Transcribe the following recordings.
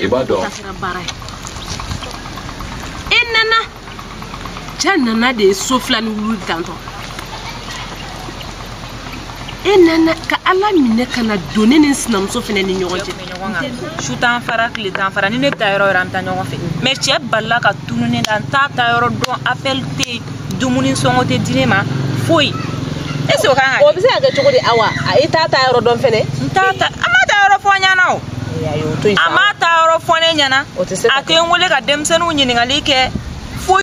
i b'a dɔn e nana cɛ nana de ye so fila ni wulu dantɔ ye nana ka ala minɛ kana don ne ni sinamuso fana ni ɲɔgɔn cɛ su t'an fara tile t'an fara ni ne bɛ taa yɔrɔ yɔrɔ an bɛ taa ɲɔgɔn fɛ mais cɛ balila ka tunu ne la n t'a taa yɔrɔ dɔn appel tɛ yen dumuni sɔngɔ tɛ di ne ma foyi est ce que o kan ka kɛ o bɛ se ka kɛ cogo di awa e t'a taa yɔrɔ dɔn fɛnɛ n t'a ta a ma taa yɔrɔ fɔ an ɲɛna o a ma taa yɔrɔ fɔ ne ɲɛna a tɛ n wele ka denmisɛnninw ɲininkali kɛ foyi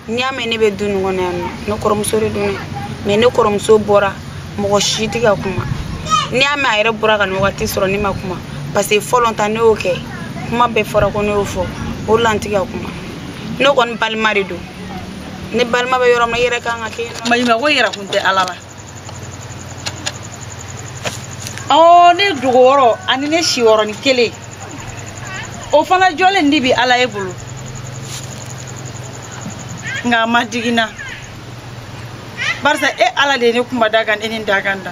n'i y'a mɛn ne bɛ du nin kɔnɔ yan nɔ ne kɔrɔmuso de don mais ne kɔrɔmuso bɔra mɔgɔ si tɛ ka kuma n'i y'a mɛn a yɛrɛ bɔra ka nin wagati sɔrɔ ne ma kuma parce que fɔlɔ ta ne y'o kɛ kuma bɛɛ fɔra ko ne y'o fɔ o la n tɛ ka kuma ne kɔni balima de don ne balima bɛ yɔrɔ min na i yɛrɛ kan ka kɛ yen nɔ maɲumako yɛrɛ kun tɛ ala la ɔ ne dɔgɔ wɔɔrɔ ani ne si wɔɔrɔ ni kelen o fana jɔlen de bi ala ye bolo nka a ma digi n na barisa e ala de ye ne kunba dakan e ni dakan da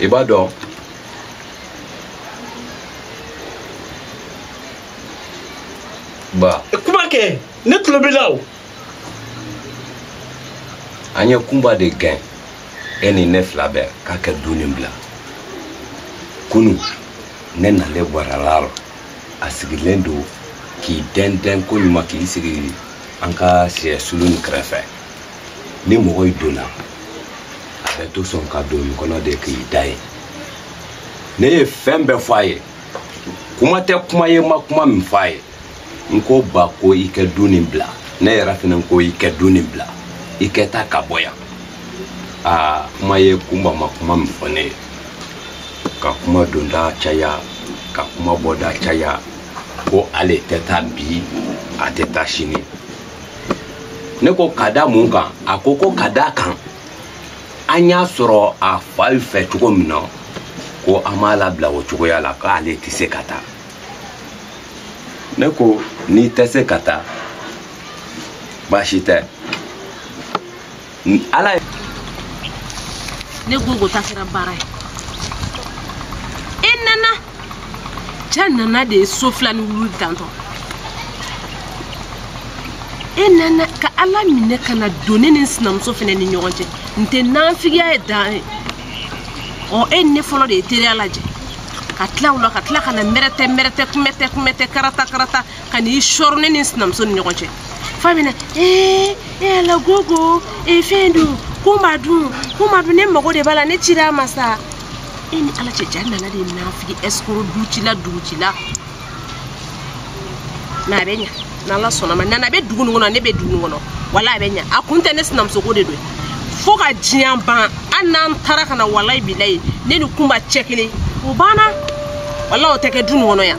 i b'a dɔn ba eh, kuma kɛ ne tulo b'i la o an ye kunba de gɛn e ni ne fila bɛɛ k'a kɛ du nin bila kunu ne nalen bɔrala rɔ a sigilen don k'i dɛndɛn koɲuman k'i sigi an ka siyɛ sulu nin kɛrɛfɛ ni mɔgɔ y'i donna a bɛ to sɔn ka don nin kɔnɔ de k'i da ye ne ye fɛn bɛɛ fɔ a ye kuma tɛ kuma ye n ma kuma min fɔ a ye n ko ba ko i kɛ du nin bila ne yɛrɛ fana ko i kɛ du nin bila i kɛ taa ka bɔ yan aa kuma ye kunba ma kuma min fɔ ne ye ka kuma donda caya ka kuma bɔda caya ko ale tɛ taa bi a tɛ taa sini ne ko ka da mun kan a ko ko ka d'a kan an y'a sɔrɔ a fa fɛ cogo min na ko an m'a labila o cogoya la k'ale tɛ se ka taa ne ko n'i tɛ se ka taa baasi tɛ ala ye ne gogo ta kɛra baara ye e nana cɛ nana de ye so fila ni wulu dantɔ ye nana ka ala minɛ kana don ne ni n sinamuso fana ni ɲɔgɔn cɛ n tɛ nanfigiya ye dan ye ɔ e ni ne fɔlɔ de ye teriya lajɛ ka tila o la ka tila ka na mɛrɛtɛ mɛrɛtɛ kunbɛtɛ kunbɛtɛ karata karata kan'i sɔrɔ ne ni n sinamuso ni ɲɔgɔn cɛ fa bɛ na ee e ala gogo ee fɛn dun ko ma dun ko ma dun ne mago de b'a la ne cira a ma sa e ni ala cɛ jaa nana de nafigi ɛsikoro ducila dugutila na a bɛ ɲa n'ala sɔnn'a ma nana a bɛ dugu nin kɔnɔ ne bɛ dugu nin kɔnɔ wala a bɛ ɲa a kun tɛ ne sinamusoko de don fo ka diɲɛ ban hali n'an taara ka na walayi bilayi ne ni kunba cɛ kelen o banna wala o tɛ kɛ du nin kɔnɔ yan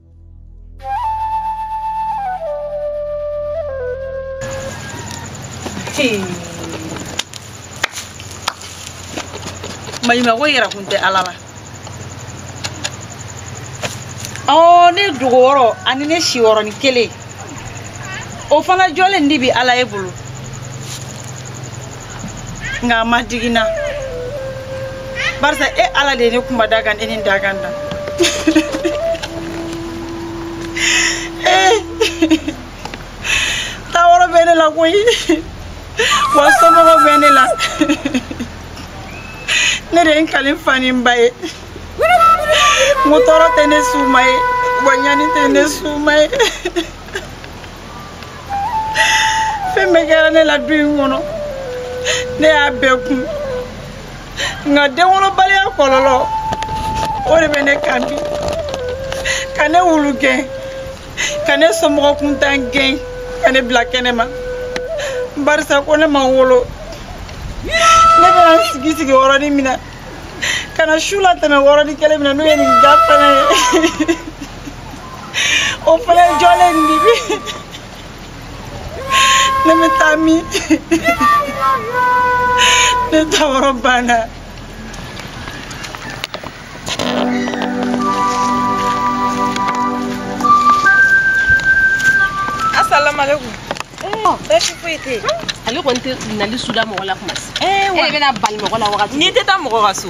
maɲumanko yɛrɛ kun tɛ ala la ɔ ne dogo yɔrɔ ani ne si yɔrɔnin kelen o fana jɔlen nin bi ala e bolo nka a ma digi n na barisa e ala de ye ne kunba dakan e nin dakan da eh. taa yɔrɔ bɛ ne la koyi wa somɔgɔw bɛ ne la ne de ye n kali n fa ni n ba ye n ko tɔɔrɔ tɛ ne s'u ma yen wa ɲani tɛ ne s'u ma yen fɛn bɛɛ kɛra ne la du in kɔnɔ ne y'a bɛɛ kun nka denwolobaliya kɔlɔlɔ o de bɛ ne kan bi ka ne wulugɛn ka ne somɔgɔ kuntan gɛn ka ne bila kɛnɛma barisa ko ne ma wolo ne bɛna n sigi sigi yɔrɔnin min na ka na su latɛmɛ yɔrɔnin kelen min na n'o ye nin da fana ye o fana jɔlen nin bi ne bɛ taa min ne taa yɔrɔ banna asalaamaaleykum basi foyi tɛ ale kɔni tɛ nali suda mɔgɔ la kuma si e bɛna bali mɔgɔ la wagati n'i tɛ taa mɔgɔ ka so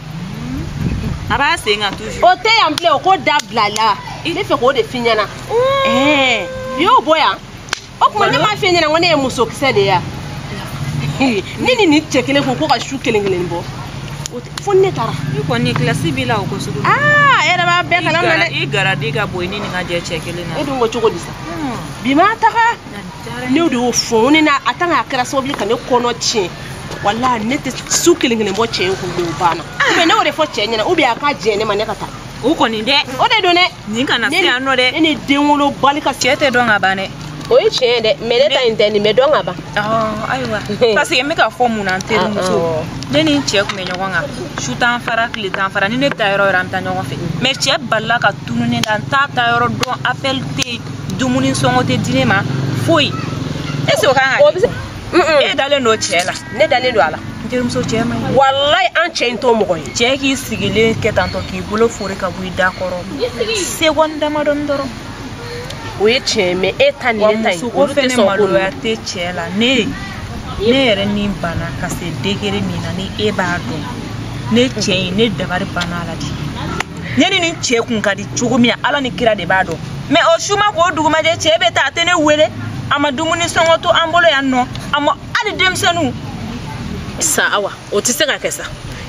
a b'a sen kan toujours. o tɛ yan bilen o ko dabilala n b'a fɛ k'o de f'i ɲɛna. ɛɛ i y'o bɔ yan o tuma ne m'a f'i ɲɛna ko ne ye musokisɛ de ye yan ne ni nin cɛ kelen ko ko ka su kelen kelen bɔ fo ne taara. i kɔni kilasi b'i la o ko sugu. aa e yɛrɛ b'a bɛɛ kalama dɛ. i garadi ka bon i ni nin ka jɛ cɛ kelen na. e dun ko cogo di sa. bi ma taga. ne de y'o fɔ ne na a tan k'a kɛra sababu ka ne kɔnɔ tiɲɛ wala ne tɛ su kelen kelen bɔ cɛ in kun o banna mais ne y'o de fɔ cɛ ɲɛna ou bien a k'a jɛ ne ma ne ka taa o kɔni dɛ o de don dɛ nin kana se yan nɔ dɛ ne ni denwolobali ka cɛ tɛ dɔn ka ban dɛ o ye tiɲɛ ye dɛ mais ne ta in tɛ nin bɛ dɔn ka ban ayiwa parce que n bɛ k'a fɔ mun na n terimuso ne ni n cɛ tun bɛ ɲɔgɔn kan su t'an fara tile t'an fara ni ne bɛ taa yɔrɔ yɔrɔ an bɛ taa ɲɔgɔn fɛ mais cɛ balila ka tunu ne la n t'a taayɔrɔ dɔn appel tɛ yen dumuni sɔngɔ tɛ di ne ma foyi est ce que o kan ka kɛ e dalen don cɛ la ne dalen don a la n terimuso cɛ ma ɲi walayi an cɛ in t'o mɔgɔ ye cɛ k'i sigilen kɛ tantɔ k'i bolo fori ka bɔ i da kɔrɔ seconde damadɔni dɔrɔn o ye tiɲɛ ye mais e ta ni ne ta in olu tɛ sɔn ko maloya tɛ cɛ la ne yɛrɛ ni bana ka se degré min na ni e b'a dɔn ne cɛ in ne dabari banna a la de ne ni nin cɛ kun ka di cogo min na ala ni kira de b'a dɔn mais o su ma ko dugu ma jɛ cɛ bɛ taa a tɛ ne wele a ma dumuni sɔngɔ to an bolo yan nɔ a ma hali denmisɛnninw sa awa o tɛ se ka kɛ sa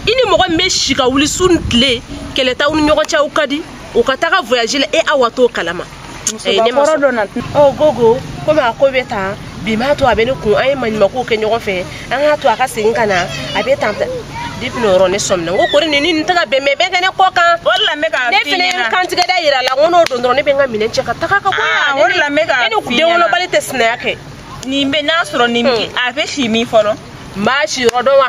i ni mɔgɔ min bɛ si ka wuli su ni tile kɛlɛ t'aw ni ɲɔgɔn cɛ aw ka di o ka taga voyage la e awa t'o kalama musokɔrɔ dɔ na ɔ gogo komi a ko bɛ tan bi m'a to a bɛ ne kun an ye maɲumankow kɛ ɲɔgɔn fɛ an k'a to a ka segin ka na a bɛ tan depuis n'o yɔrɔ ne sɔmina n ko kori nin ni nin tɛ ka bɛn mɛ bɛɛ kɛ ne kɔ kan o de la n bɛ k'a f'i ɲɛna ne fana ye n kantigɛ da yira a la n ko n'o don dɔrɔn ne bɛ n ka minɛn cɛ ka taga ka bɔ yan o de la n bɛ k'a f'i ɲɛna ne ni denwolobali tɛ sinaya kɛ nin bɛ n'a sɔrɔ nin a bɛ si min fɔlɔ n b'a siyɔrɔ dɔn wa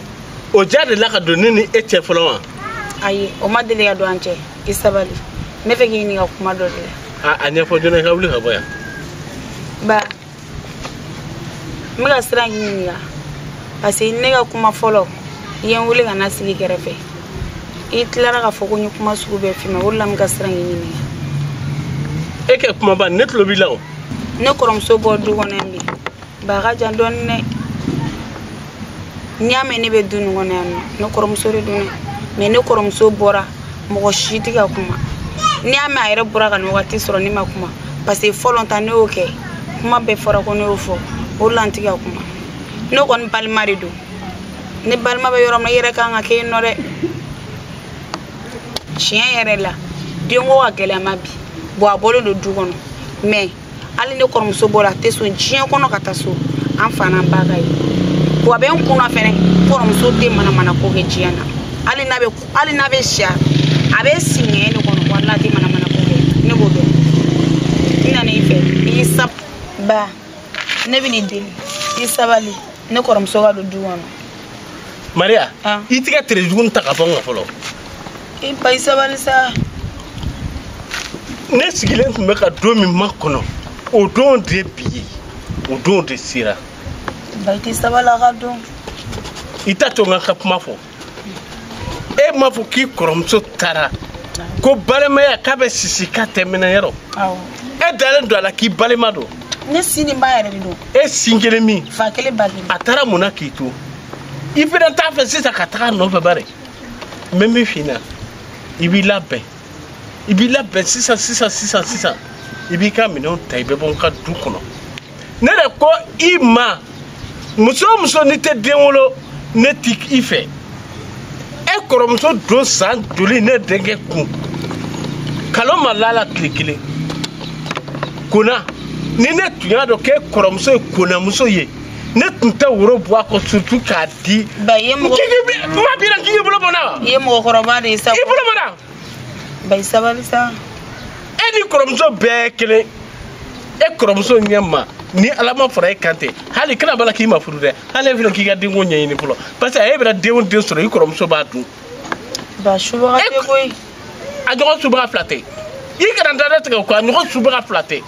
o ja delila ka don ne ni e cɛ fɔlɔ wa ayi o ma deli ka don an cɛ i sabali n b'a fɛ k'i ɲininka kuma dɔ de la a ɲɛfɔ joona i ka wuli ka bɔ yan ba n bɛ ka siran k'i ɲininka parce que ne ka kuma fɔlɔ i ye n wele ka na sigi i kɛrɛfɛ i tilara k'a fɔ ko n ye kuma sugu bɛɛ f'i ma o de la n bɛ ka siran k'i ɲininka e kɛ kuma ba ne tulo b'i la o ne kɔrɔmuso bɔ du kɔnɔ yan bi ba ka jan dɔɔni dɛ n'i y'a mɛn ne bɛ du nin kɔnɔ yan nɔ ne kɔrɔmuso de don dɛ mais ne kɔrɔmuso bɔra mɔgɔ si tɛ ka kuma n'i y'a mɛn a yɛrɛ bɔra ka nin wagati sɔrɔ ne ma kuma parce que fɔlɔ ta ne y'o kɛ kuma bɛɛ fɔra ko ne y'o fɔ o de la n tɛ ka kuma ne kɔni balima de don ne balima bɛ yɔrɔ min na i yɛrɛ kan ka kɛ yen nɔ dɛ tiɲɛ yɛrɛ la denko ka gɛlɛn ma bi bɔn a bɔlen don du kɔnɔ mais hali ne kɔrɔmuso bɔra a tɛ sɔn diɲɛ kɔnɔ ka taa so an fa n'an ba k'a ye bon a bɛ n kunna fɛnɛ kɔrɔmuso tɛ manamana ko kɛ diɲɛ na hali n'a bɛ hali n'a bɛ si a bɛ si ɲɛ ne kɔnɔ walayi a tɛ manamana ko kɛ ne b'o dɔn n nana i fɛ i y'i sab ba ne bɛ n'i deli i sabali ne kɔrɔmuso ka don du kɔnɔ maria ah. i tigɛ tere jugu ta ka bɔ n kan fɔlɔ i ba i sabali sa ne sigilen tun bɛ ka don min makɔnɔ o don de bi ye o don de sera ba i tɛ sabali a ka don i t'a to n ka kuma fɔ e m'a fɔ k'i kɔrɔmuso taara ko balimaya k'a bɛ sisi k'a tɛ mɛnɛ yɔrɔ e dalen don a la k'i balima don ne sin ni ba yɛrɛ de don e sin kelen min fa kelen ba kelen a taara mun na k'i to i fana t'a fɛ sisan ka taga nɔfɛ bari n bɛ min f'i ɲɛna i b'i labɛn i b'i labɛn sisan sisan sisan sisan i b'i ka minɛnw ta i bɛ bɔ n ka du kɔnɔ ne de ko i ma muso o muso n'i tɛ den wolo ne t'i fɛ e kɔrɔmuso don san joli ne denkɛ kun kalo ma lala tile kelen kona ni ne tun y'a dɔn k'e kɔrɔmuso ye konamuso ye ne tun tɛ woro bɔ a kɔ surtout k'a di. ba i ye mɔgɔ. k'i k'i bi ma bi la k'i k'i bolo bɔ n na wa. i ye mɔgɔkɔrɔba de ye sa. i bolo bɔ n na. ba i sabali sa e ni kɔrɔmuso bɛɛ kelen e kɔrɔmuso ɲɛ ma ni ala ma fara e kan tɛ hali kana b'a la k'i ma furu dɛ hali e fana k'i ka denko ɲɛɲini fɔlɔ parce que e bɛna den o den sɔrɔ i kɔrɔmuso b'a dun ba subaga tɛ koyi a ɲɔgɔn subaga fila tɛ i kana da dɛ tigɛ o kɔ a ɲɔgɔn subaga fila tɛ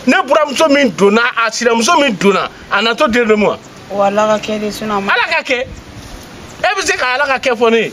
ne buramuso min donna a sinamuso min donna a na to den de ma wa ala k'a kɛ de sinon ala k'a kɛ e bɛ se ka ala k'a kɛ fɔ ne ye